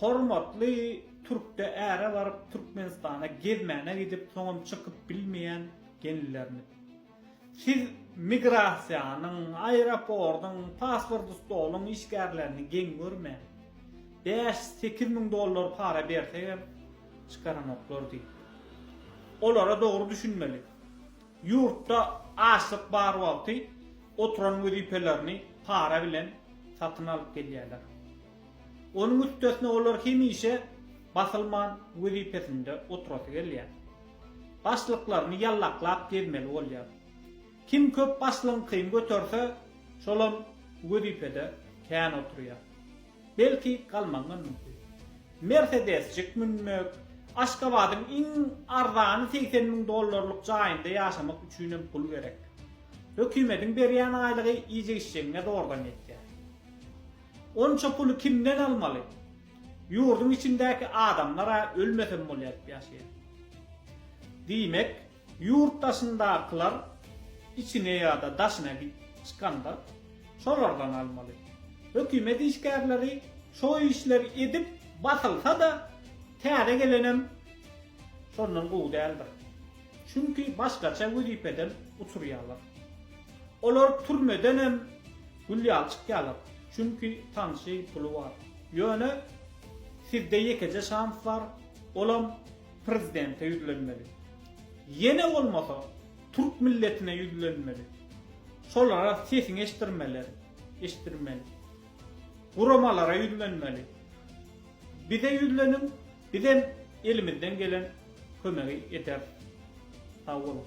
Hormatly Türkde äre baryp Türkmenistana gezmäne gidip soňam çykyp bilmeýän gelinlerimiz. Siz migrasiýanyň, aeropordyň, paspordy stoluň işgärlerini geň görmäň. Bäş, sekiz müň dollar para bersegem çykaranoklar diýip. Olara dogry düşünmeli. Ýurtda açlyk bar wagty oturan wezipelerini para bilen satyn alyp gelýärler. Onuň üstesine olar hemişe basylman wezipesinde oturasy gelýär. Başlyklaryny ýallaklap gezmeli bolýar. Kim köp başlygyňkyny göterse, şolam wezipede kän oturýar. Belki, galmagyňam mümkin. Mersedesjik münmek, Aşgabadyň iň arzany segsen müň dollarlyk jaýynda ýaşamak üçinem pul gerek. Hökümediň berýän aýlygy iýjek-içjegiňe zordan ýetýär. Onça puly kimden almaly? Ýurduň içindäki adamlar-a ölmesem bolýar diýip ýaşaýar. Diýmek, Ýurt daşyndakylar içine ýa-da daşyna gidip çykanda şolardan almaly. Hökümet işgärleri şo işleri edip basylsa-da täze gelenem şondan gowy däldir. Çünki başgaça wezipeden uçurýarlar. Olar türmedenem gül ýaly çykýarlar. Çünki tanşy, puly bar. Ýöne sizde ýekeje şans bar, olam prezidente ýüzlenmeli. Ýene bolmasa türk milletine ýüzlenmeli. Şolara sesiňi eşdirmeleri, eşdirmeli. Guramalara ýüzlenmeli. Bize ýüzleniň, bizem elimizden gelen kömegi ederis. Sag boluň.